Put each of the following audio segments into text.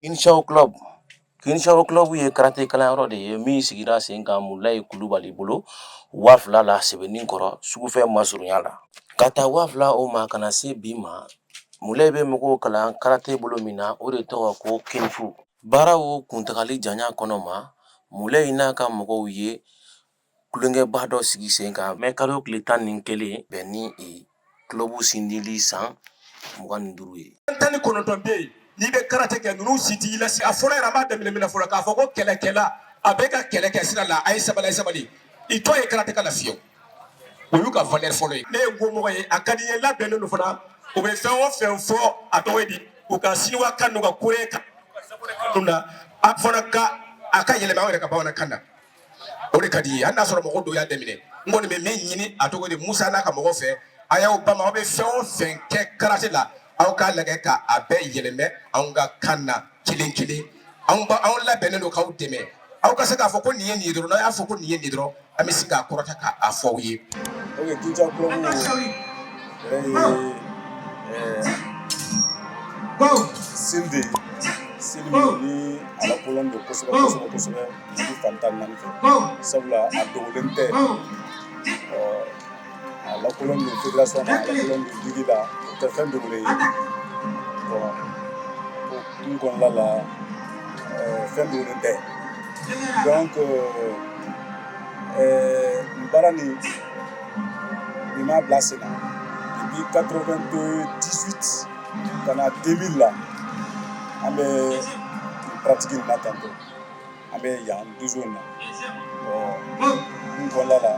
Kinshaw club Kinshaw club ye karate kalanyɔrɔ de ye min sigira sen kan Mulayi Kulubali bolo waa fila la Sebeninkɔrɔ sugufɛ masurunya la ka taa waa fila o ma ka na se bi ma Mulayi bɛ mɔgɔw kalan karate bolo min na o de tɔgɔ ko kung-fu baara o kuntagali janya kɔnɔ ma Mulayi n'a ka mɔgɔw ye tulonkɛba dɔ sigi sen kan mɛ kalo tile tan ni kelen bɛn ni club sindili san mugan ni duuru ye tan ni kɔnɔntɔn bɛ yen n'i bɛ karate kɛ ninnu si t'i la a fɔlɔ yɛrɛ b'a daminɛ min na fɔlɔ k'a fɔ ko kɛlɛkɛla a bɛ ka kɛlɛ kɛ sira la a ye sabali sabali i tɔ ye karatekɛla fiye o y'u ka valeur fɔlɔ ye ne ye nkomɔgɔ ye a ka di n ye labɛnnen don fana u bɛ fɛn o fɛn fɔ a tɔgɔ di u ka siniwa kan ka kore kan a fɔra ka a ka yɛlɛma yɛrɛ ka bamanankan na o de ka di ye hali n'a sɔrɔ mɔgɔ dɔw y'a daminɛ n kɔni bɛ min ɲini a tɔgɔ de Musa n'a ka mɔgɔ fɛ a y'aw bama aw bɛ fɛn o fɛn kɛ karate la aw k'a lajɛ ka a bɛɛ yɛlɛmɛ anw ka kan na kelen kelen anw ba anw labɛnnen don k'aw dɛmɛ aw ka se k'a fɔ ko nin ye nin ye dɔrɔn n'a y'a fɔ ko nin ye nin dɔrɔn an bɛ se k'a kɔrɔta k'a fɔ aw ye. Kinshaw club sindi ni a lakodɔnnen don kosɛbɛ dugu fan tan ni naani fɛ sabula a dogolen tɛ ɔ a lakodɔnnen don federation na a lakodɔnnen don ligue la o tɛ fɛn dogolen ye ɔ o kun kɔnɔna la fɛn dogolen tɛ donc nin baara nin nin m'a bila sen na depuis 98 ka na 2000 la an bɛ pratique nin na tantôt an bɛ yan dojo nin kɔnɔna la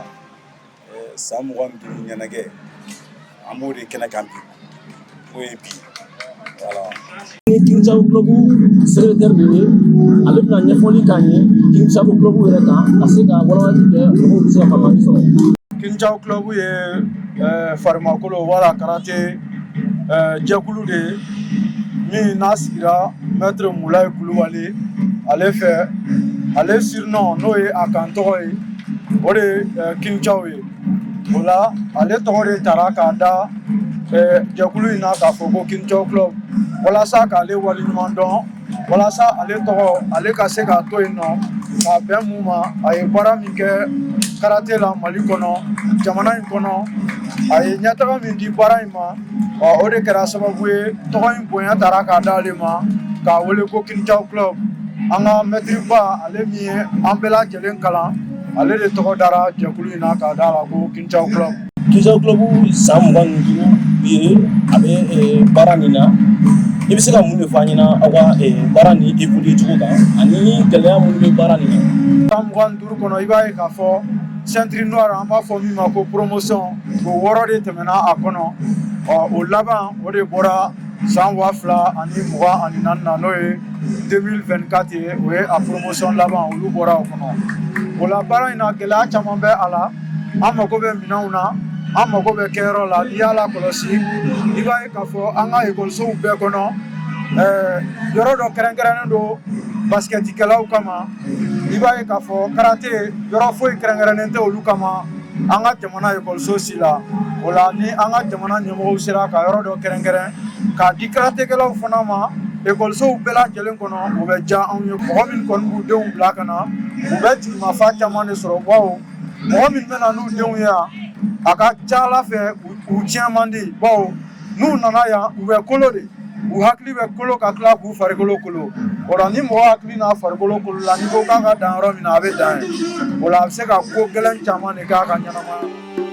san mugan ni duuru ɲɛnajɛ an b'o de kɛnɛ kan bi o ye bi Kinshaw club secrétaire de ye ale bɛna ɲɛfɔli k'an ye Kinshaw club yɛrɛ kan ka se ka walawalali kɛ mɔgɔw bɛ se ka faamuyali sɔrɔ Kinshaw club ye farimakolo wala karate jɛkulu de ye min n'a sigira mɛtiri Mulayi Kulubali ale fɛ ale surnom n'o ye a kan tɔgɔ ye o de Kinshaw ye o la ale tɔgɔ de tara k'a da jɛkulu in na k'a fɔ ko Kinshaw club walasa k'ale waleɲuman dɔn walasa ale tɔgɔ ale ka se k'a to yen nɔ k'a bɛn mun ma a ye baara min kɛ karate la Mali kɔnɔ jamana in kɔnɔ a ye ɲɛtaga min di baara in ma o de kɛra sababu ye tɔgɔ in bonya tara k'a d'ale ma k'a wele ko Kinshaw club an ka mɛtiriba ale min ye an bɛɛ lajɛlen kalan ale de tɔgɔ dara jɛkulu in na k'a d'a la ko Kinshaw club club san mugan ni duuru ye a bɛ baara nin na i bɛ se ka mun de fɔ an ɲɛna aw ka baara nin évoluer cogo kan ani gɛlɛya minnu bɛ baara nin na san mugan ni duuru kɔnɔ i b'a ye k'a fɔ ceinture noire an b'a fɔ min ma ko promotion o wɔɔrɔ de tɛmɛna a kɔnɔ ɔ o laban o de bɔra san waa fila ani mugan ani naani na n'o ye 2024 ye o ye a promotion laban olu bɔra o kɔnɔ o la baara in na gɛlɛya caman bɛ a la an mago bɛ minɛnw na an mago bɛ kɛyɔrɔ la n'i y'a lakɔlɔsi i b'a ye k'a fɔ an ka ekɔlisow bɛɛ kɔnɔ yɔrɔ dɔ kɛrɛnkɛrɛnnen don baskɛtikɛlaw kama i b'a ye k'a fɔ karate yɔrɔ foyi kɛrɛnkɛrɛnnen tɛ olu kama an ka jamana ekɔliso si la o la ni an ka jamana ɲɛmɔgɔw sera ka yɔrɔ dɔ kɛrɛnkɛrɛn k'a di karatekɛlaw fana ma ekɔlisow bɛɛ lajɛlen kɔnɔ o bɛ diya anw ye mɔgɔ min kɔni b'u denw bila ka na u bɛ jigimafa caman de sɔrɔ baw mɔgɔ min bɛ na n'u denw ye yan a ka ca a la fɛ u tiɲɛ man di baw n'u nana yan u bɛ kolo de u hakili bɛ kolo ka tila k'u farikolo kolo o la ni mɔgɔ hakili n'a farikolo kolola n'i ko k'a ka dan yɔrɔ min na a bɛ dan yen o la a bɛ se ka ko gɛlɛn caman de k'a ka ɲɛnamaya